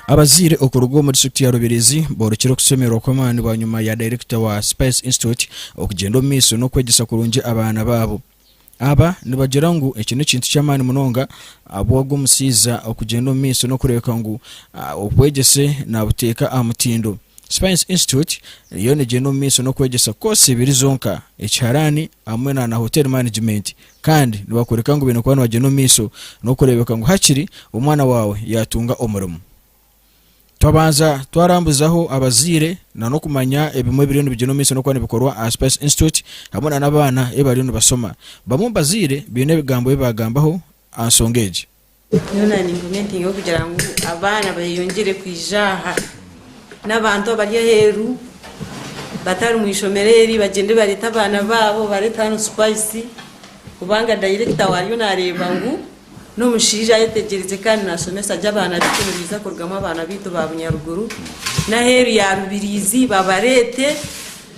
Abazaire okuruga omu district ya Rubirizi borekire okusemererwa kw'amaani bwanyima ya director wa Spice Institute okugyenda omu maiso n'okwegyesa kurungi abaana baabo. Aba nibagira ngu eki n'ekintu ky'amaani munonga abu ogwo mushaija okugyenda omu maisho n'okureebeka ngu obwegyese naabuteeka aha mutindo. Science Institute yo neegyenda omu maisho n'okwegyesa koosi ibiri zonka, ekiharaani hamwe na na Hotel Management, kandi nibakworeka ngu baine kuba nibagyenda omu maisho n'okureebeka ngu hakiri omwana waawe yaatunga omurimo. Twabanza twarambuzaho abazaire na n'okumanya ebimwe ebiriyo nibigyenwa omu maisho n'okuba nibikorwa aha Spice Institute hamwe na n'abaana ei bariyo nibashoma. Bamwe omu bazaire baine ebigambo ebi baagambaho aha nshonga egi. Nyowe naanyimba omuringo kugira ngu abaana beeyongyere kwija aha, n'abantu abari aheeru batari mu ishomero eri bagyende bareete abaana baabo bareete hanu Spice kubanga dayirekita wayo naareeba ngu N'omushaija ayetegyereize kandi naashomesa gye abaana baitu nibaija kurugamu abaana baitu ba bunyaruguru. N'aheeru ya Rubiriizi babareete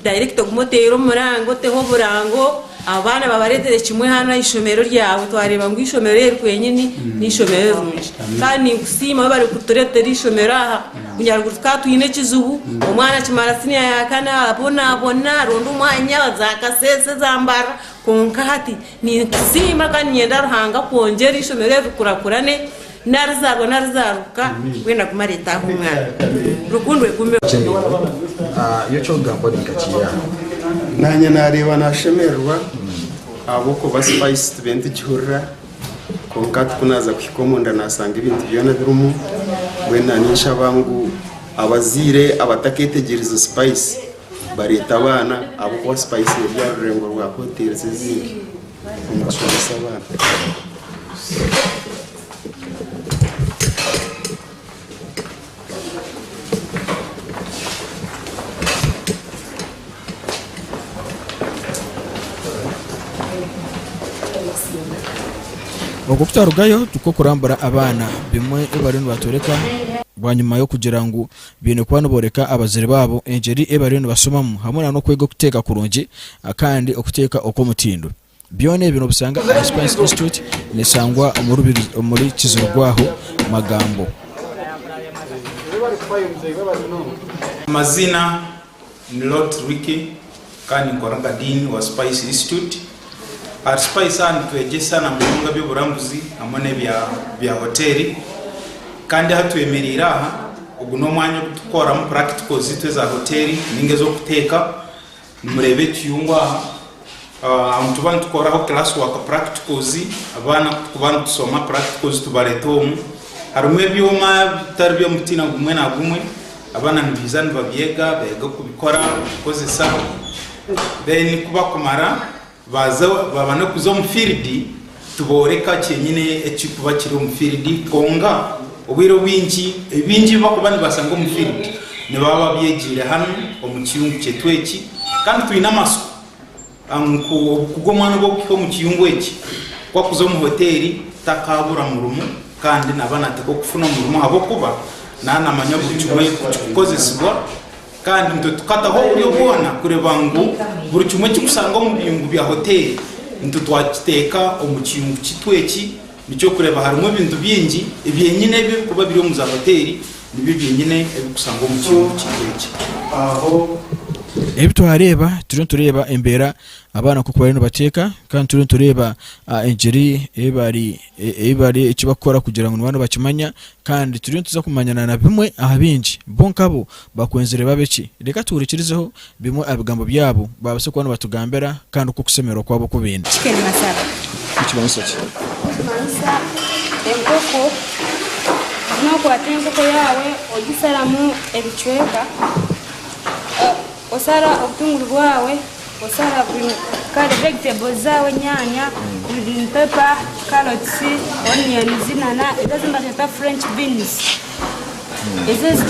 dayirekita ogume oteere omuranga oteho oburango. Abaana babareetere kimwe hanu aha ishomero ryawe twareeba ngu eishomero eri kwenyini n'eishomero erirungi. Kandi ninkusiima waaba orikutureetera eishomero aha. Bunyaruguru tukaba twine ekizibu, omwana akimara siniya yaakana abonaabona aronda omwanya za Kasese za Mbarara. Kwonka hati Ninkusiima kandi niinyenda Ruhanga kwongyera eishomero eri rikurakurane narizaarwa narizaarwuka mbwenu agume areetaaho omwana. Rukundo egumeho. Nyowe eky'okugamba ndi nka kiri aho. Naanye naareeba naashemererwa ahabw'okuba spice tibe nitigihurira kwonka ku naaza kuhika omunda naashanga ebintu byona birimu mbwenu na ninshaba ngu abazaire abatakeetegyerize spice bareeta abaana ahabw'okuba spice eri aha rurengo rwa hoteeri ezindi omu kushomesa abaana. Oku tutarugayo tukokurambura abaana bimwe ebi bariyo nibatworeka bwanyima y'okugira ngu baine kuba nibooreka abazaire baabo engyeri ei bariyo nibasomamu hamwe n'okwega okuteeka kurungi kandi okuteeka okw'omutindo. Byona ebi noobisanga aha Spice Institute neeshangwa omuri Kizirugwaho Magambo. Amazina Ni Loti Ricky kandi ninkora nka Dean wa Spice Institute. Ahari Spice aha nitwegyesa na munonga eby'oburambuzi hamwe n'ebya bya hoteeri. Kandi aha twemereire aha, ogu n'omwanya ogu tukukoreramu practicals zaitu eza hoteeri nainga ez'okuteeka. Nimureeba ekiyungu aha Nituba nitukoraho class work practicals, abaana kutukuba nitushoma practicals tubareta omu harimu ebyoma bitari by'omutiina gumwe na gumwe, abaana nibiija nibabyega beega kubikora kubikozesa then kubakumara babane kuza omu field. Tibooreka kyenyine ekirikuba kiri omu field, kwonga obwire obwingi ebi bingi ebi bakuba nibashanga omu field nibaba babyegiire hanu omu kiyungu kyaitu eki. Kandi twine amatsiko ngu obukuga omwana obu okuhika omu kiyungu eki, ku akuza omu hoteeri takaabura murimo kandi naba nateeka okufuna omurimo ahabw'okuba naba namanya buri kimwe ekirikukozesibwa Kandi nitwekataho oburyo bwona kureba ngu buri kimwe ekirikushangwa omu biyungu bya hoteeri nitwakiteeka omu kiyungu kyaitu eki, nikyo kureba harimu ebintu bingi ebyenyine ebi ebirikuba biri omu za hoteeri nibyo byenyine ebirikushangwa omu kiyungu kyaitu eki. Ebi twareeba, turiyo nitureeba embeera abaana nk'oku bariyo nibateeka kandi turiyo nitureeba engiri ei bari ebi bari, eki bakukora kugira ngu niba nibakimanya. Kandi turiyo nituza kumanya na na bimwe aha bingi. Bo nkabo bakwenzire babe ki? Reka tuhurikirizeho bimwe aha bigambo byabo baabase kuba nibatugambira kandi oku okusemererwa kwabo ku baine. Chicken masala. Nikimanyisa ki? Nikimanyisa enkoko. Nookwata enkoko yaawe ogisharamu ebicweka, osara obutunguru bwaawe, Osara green kare vegetables zaawe enyaanya, green pepper, carrots, onions nana ezi ezi nibagyeta french beans. Ezi ezi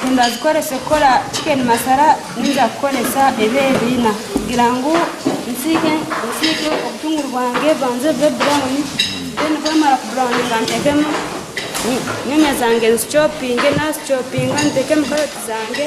nindazikoresa kukora chicken masara ninza kukoresa ebi ebi ina kugira ngu nsiike nsiike obutunguru bwangye bubanze bube brown then bwamara ku burawuninga ntekemu nyanya zangye nzichopinge nazichopinga ntekemu carrot zangye.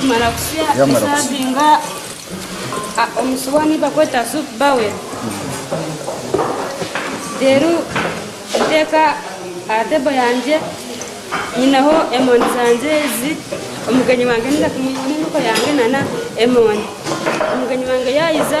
Kumara kusya kusavinga omusuwani bakweta soup bowel reero nteeka aha tebo yangye nyineho emondi zangye ezi omugenyi wangye naija kumwihamu enkoko yangye nana emondi omugenyi wangye yaayiza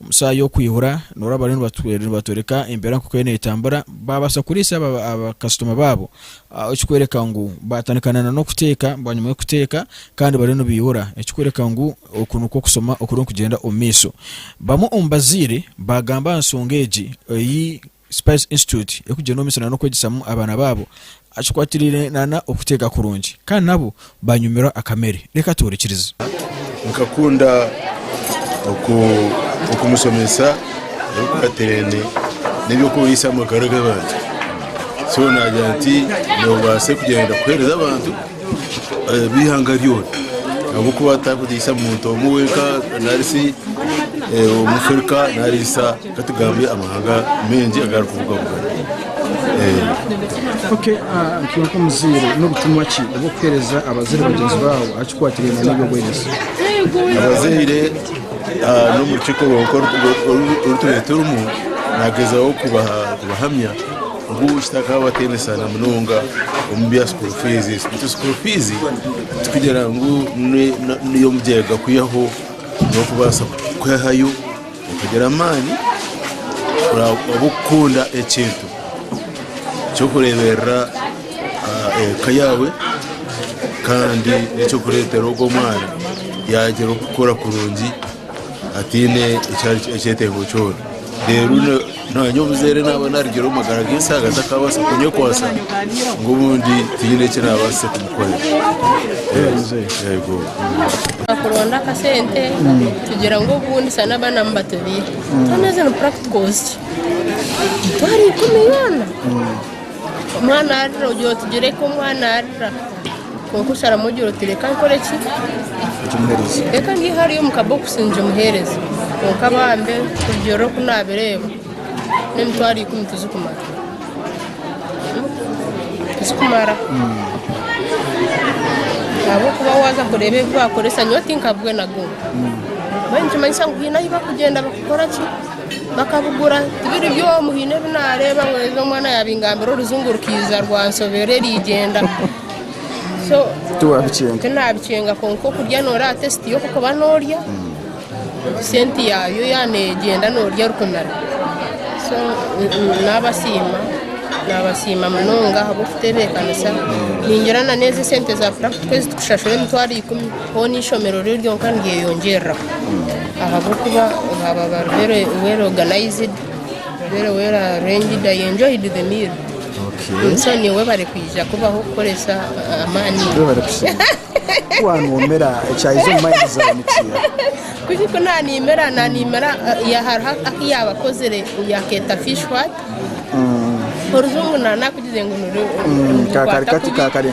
Omu shaaha y'okwihura nobu bariyo nibatworeka embeera nk'oku eriyo neetambura, baabaasa kuriisa baakasitoma baabo, ekirikworeka ngu baatandika na n'okuteeka bwanyima y'okuteeka kandi bariyo nibaihura, ekirikworeka ngu oku nikwo kushoma okuriyo nikugyenda omu maisho. Bamwe omu bazaire baagamba aha nshonga egi ei Spice Institute erikugira n'omumiso nana okwegyesamu abaana baabo akikwatiraine nana okuteega kurungi kandi nabo banyumirwa akamere. Reka tuhurikirize. Nkakunda oku okumusomesa ebikwatirene n'eby'okubuhiisa amagara g'abantu. So naagira nti noobaase kugyenda kuheereza abantu eh, b'eihanga ryona ahabw'okuba tarikugiisa muntu omwe wenka nari si eh, Omuafrika nariisa Ka tugambe amahanga maingi agarikubugabuga. Ee. Okay, ah, ntwe nk'omuzaire n'obutumwa ki obu okuheereza abazaire bagyenzi baawe aha kikwatiraine n'eby'obwegyese? Abazaire ah, n'omu rukiiko rwonka oru- oru- oru- oru tube turimu, naagyezaho kubaha- kubahamya ngu kitakabaho bateenesaana munonga omu bya school fees. Beitu school fees tikugira ngu ne- ne- n'ey'omugyega kwihaho n'okubaasa kwehayo. Okagira amaani kuraabe orikukunda ekintu ky'okureeberera eka yaawe kandi n'eky'okureetera ogwo mwana yaagira okukura kurungi ataine ekyetengo kyona. Naanye omuzaire naaba naarugire omu magara g'ensaaga takaabaasa kunyekwatsa ngu obundi tihaine eki naabaasize kumukorera. Kuronda akasente kugira ngu obundi shana abaana mubatubiire shana ezo ni practicals ki? Emitwaro ikumi yoona? Omwana arira ogira otugireko omwana arira. Kwonka osharamu ogira oti, Reka nkore ki? Reka ngye hariya omu kabokisi ngimuheereze. Kwonka bambe, kurugiirira oku naabireeba, n'emitwaro ikumi tizikumara. Tizikumara. Ahabw'okuba waaza kureeba ebi baakoresa, nyowe tinkabugwe na gumwe. Mbwenu nikimanyisa ngu haine ahu barikugyenda bakakora ki? Bakabugura tibiri by'omu haine ebi naareeba ngu ezi omwana yaabingambira orujungu rukaija rwansobera eriigyenda so tinaabikyenga kwonka okurya nooreeba tesiti y'okukuba noorya sente yaayo yaaba neegyenda noorya erikumira so naabasiima naabasiima munonga ahabw'okutebeekanisa ningira na n'ezi esente za purakitiko ezi turikushashura emitwaro ikumi Hoona eishomero riri ryonka niryeyongyerera ahabw'okuba baaba bari very well organised, very well arranged, I enjoyed the meal. Okay. So nyowe bari kwija kubaho kukoresa ah, amaani. Be bari kushemererwa. Kuwanwomera ekyaija omu mind zaawe nikiiha? Kuki ku naaniimira naaniimira ah, ya- hariho aku yaaba akozire yakeeta fish what orujungu na nakugize ngu nuri Mm, kakari kati kakari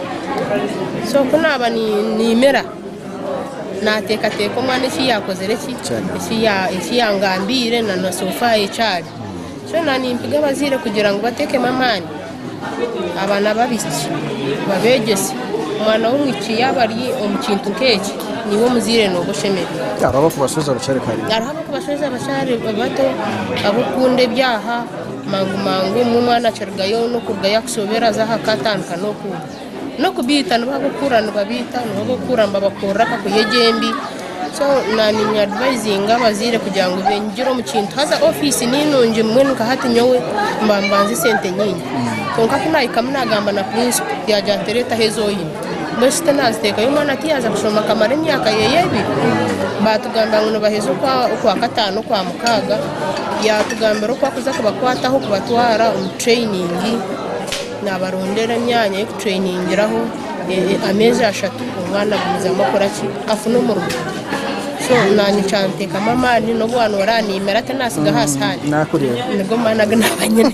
So ku naaba naimira, naateekateeka omwana eki yaakozire ki, eki yaangambiire na na sofa eki ari. Kyona nimpiga abazaire kugira ngu bateekemu amaani abaana b'abaishiki, babeegyese. Omwana w'omwishiki yaaba ari omu kintu nk'eki, niiwe omuzaire nooba oshemereire. Hariho ab'okubashoza bakyari bato, ab'okukunda eby'aha. Mangu mangu omwe omwana akirugayo nokurugayo akushobera aza aha ka atandika noku nokubiita nibo abokukura nibabiita nibo abokukura nibabakorera akakuhe gye embi so na ninya advisinga abazaire kugira ngu benyigire omu kintu haza office ninungi mbwenu nka hati nyowe mba mbanza esente nyingi kwonka ku nahikamu nagamba na principle yagira ngu teretaho ezi oyine. Mbwenu shi naaziteekayo omwana ku yaaza kushoma akamara emyaka ye ebiri? Baatugambira ngu nibaheza okwakataano okwamukaaga, yaatugambira oku arikuza kubakwataho kubatwara omu tureyiningi, naabarondera emyanya y'okutureningiraho ameezi ashatu omwana agumizamu akora ki? Afune omurimo. So naanye kyanteekamu amaani n'obu waaba nooba oraniimire ati naatsigaho aha sihaani. Nigo maani agu naaba nyine.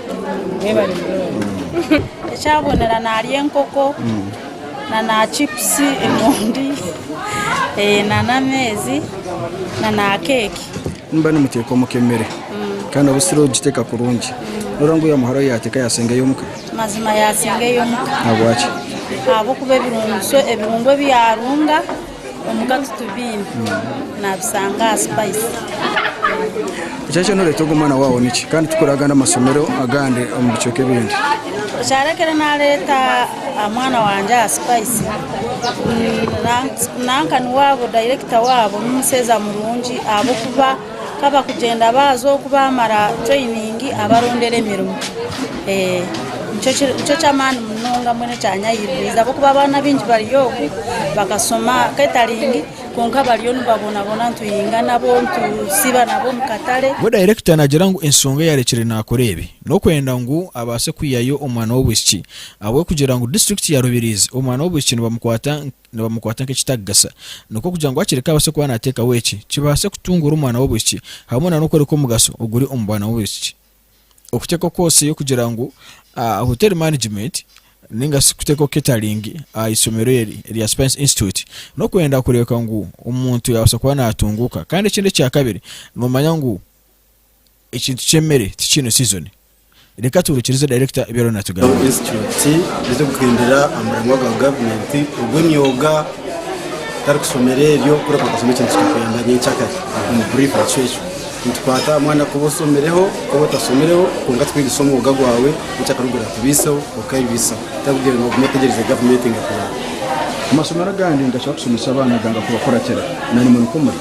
Ekyabonera narya enkoko na chipusi emondi na amaizi na keeki. Nimba nimuteeka omuka emere kandi noba osiri kugiteeka kurungi noreeba ngu owamuhara we yateeka yasinga ey'omuka? Mazima yasinga ey'omuka. Ahabwaki? Ahabw'okuba ebirungo ebi yarunga. Omu katutu biine nabisanga aha spice. Ekyarekyera noreeta ogu omwana waawe niki kandi tukore agandi amasomero agandi omu bicweka ebindi? Ekyarekyera nareeta omwana wangye aha spice nanka niwe aba director waabo nomushaija murungi ahabwokuba Ka bakugyenda baaza oku baamara tureyiningi abarondera emirimo. Nikyo ky'amaani munonga mbwenu ekyanyahimbiriize ahabw'okuba abaana baingi bari oku bakashoma keetaringi kwonka bariyo nibabonaboona nituhinga nabo, nitusiiba nabo omu katare. Bwo dayirekita naagira ngu enshonga eyaarekyire naakora ebi, n'okwenda ngu abaase kwihayo omwana w'obwishiki ahabw'okugira ngu disiturikiti ya Rubirizi omwana w'obwishiki nibamukwata nibamukwata nk'ekitarikugasa. Nikwo kugira ngu akireke abaase kuba naateekaho eki kibaase kutunguura omwana w'obwishiki hamwe n'okworeka omugasho oguri omu bwana b'obwishiki. Okuteekaho koosi y'okugira ngu Hotel Management nainga shi kuteekaho catering aha ishomero eri erya Spice Institute n'okwenda kureebeka ngu omuntu yaabaasa kuba naatunguuka. Kandi ekindi ekya kabiri, noomanya ngu Ekintu ky'emere tikiine sizoni. Reka tuhurikirize dayirekita ebi ariyo naatugambira. Ensitityuti ezirikuhindura amurimo ga gavumenti ogw'emyoga otarikushomera ebyo ku orikukashoma ekintu kikakuyamba nyenkyakare omu buriifu ekyo ekyo nitukwata aha mwana ku oshomireho ku otashomireho kwonka tukwegyesa omwoga gwawe nyenkyakare ogu orakubiiseho okabibiisaho otarikugira ngu ogume otegyereze gavumenti ngu ekuyambe. Amashomero agandi nigashaba kushomesa abaana ganga kubakuratira na nimwo nikwo muri.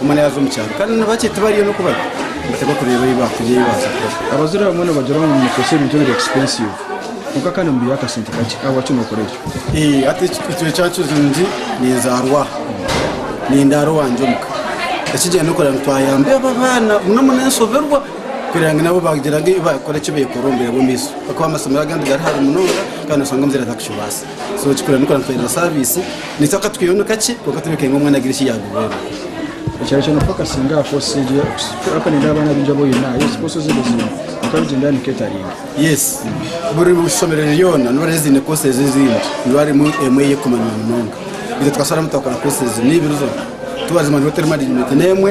Omwana yaaza omu kyaro kandi ni bakye tibariyo n'oku bari nibataga kureeba ei baakurya ei baaza kukora. Abazaire abamwe nibagira ngu nimukoresa ebintu ebiri expensive kwonka kandi mubiiha akasente kakye. Ahabwaki nookora ekyo? Ee, hati ekyo ekyaba kirungi ninzaarwa aha, nindaara owangye omuka. Ekigyenda n'okureeba ngu twayamba abo abaana bumwe bumwe n'enshoberwa kureeba ngu nabo baagira ngu ei baakora eki beekora omu bwire bw'omu maisho ahakuba amasomero agandi gari hare munonga kandi noshanga omuzaire atakukibaasa. so kikurenuka nitwenda saviisi nikyo akatukireho nikakye kwonka tureebeke ngu omwana agire eki yaagubwera ekyaro kyona paka singa aha post egi paka nindeeba abaana baingi aba oyine aha post ezi buzima kwonka rugyendo aha ni catering yes buri ishomero ryona niba hariho eziine post ezi ezindi niba harimu emwe ey'okumanywa munonga itwe tukasharamu twakora post ezi niibiri zona twazimanya hariho teri management n'emwe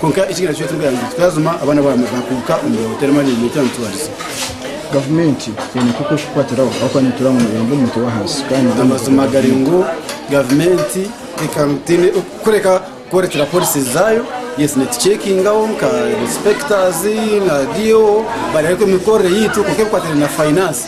Kwonka ekigera nikyo turikugamba ngu twazuma abaana baamwe baakuguka omu bihooto reero amaani gaitu amitwarize. Gavumenti eine nk'oku erikukukwatiraho ahabw'okuba niitura omu murembe omu mutwe w'ahansi kandi Amazima gari ngu gavumenti ekaguta eine kureka kworekera policies zaayo. Yes, nituceekingaho nka inspectors na DO bareebe emikorere yaitu kwonka ebikwatiraine na finance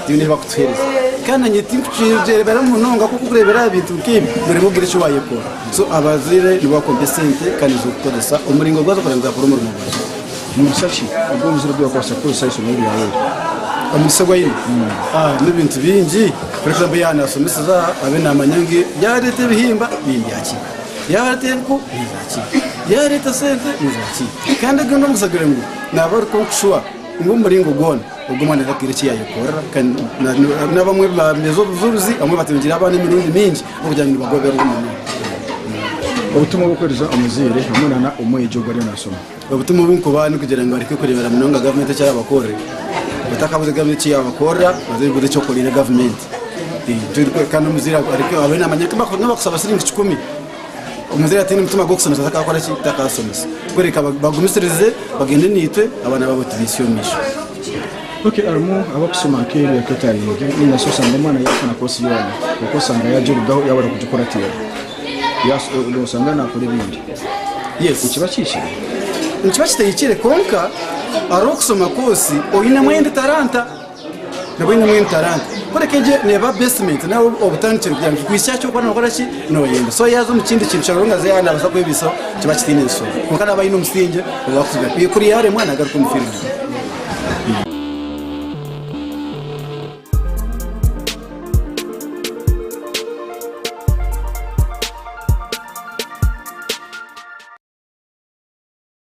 twine ebi barikutuheereza. Kandi naanye tinkukyereebera munonga ahabw'okuba ku orikureebera aha bintu nk'ebi nooreeba obwire eki waayekora. So abazaire nibo bakuha esente kandi nizo orikukoresa. Omuringo ogu azakureeba nizakora omurimo gwawe nimugisha ki? Ogu omuzaire ogu yakubaasa kukoresa eishomero ryawe omugisha ogu aine n'ebintu bingi. For example, yaaba naashomeseza aha abe naamanya ngu yaareeta ebihimba nindya ki, yaareeta ebiku nindya ki, yaareeta esente nindya ki. Kandi ogwo n'omugisha gure ngu naaba ari kwonka shuwa ngu omuringo gwona. Ogwo mwana tataine eki yaayekorera kandi n'abamwe baameeza obujurizi, abamwe batungire abaana emirundi mingi ahabw'okugira ngu nibagoberwa muno. Obutumwa bw'okuhweriza omuzaire hamwe na omwegi ogu ariyo naashoma. Obutumwa obu nkubaha n'okugira ngu bareke kureebera munonga gavumenti eki eraabakorere. Batakabuuze gavumenti eki yaabakorera, baze babuuze eki okoreire gavumenti. Kandi omuzaire abe naamanya ku n'abakusaba shiringi kikumi. Omuzaire ataine mutima gw'okushomesa takakora ki? Takashomesa. Kureka bagumisirize bagende naitwe abaana baabo tubaitsye omu maisho. Ok, harimu abakushoma nk'ebyo catering nainga shi oshange omwana yaashoma course yoona kwonka oshange yaagirugaho yaaba arikugikuratiira noshanga naakora ebindi. Yes. Nikiba kihikire? Nikiba kitahikire kwonka hariho okushoma course oinemu endi talanta. nabwo aine mbwenu talanta kureka egyo neeba basement nari obutandikiro kugira ngu ekikwihikiise aha ky'okuba nookora ki noohemba so yaaza omu kindi kintu kiraruga ngu aze naabaasa kwebisaho kiba kitaine nshonga kwonka naaba aine omusingye ogu arikugira ngu kuriya yaaremwa naagaruka omu field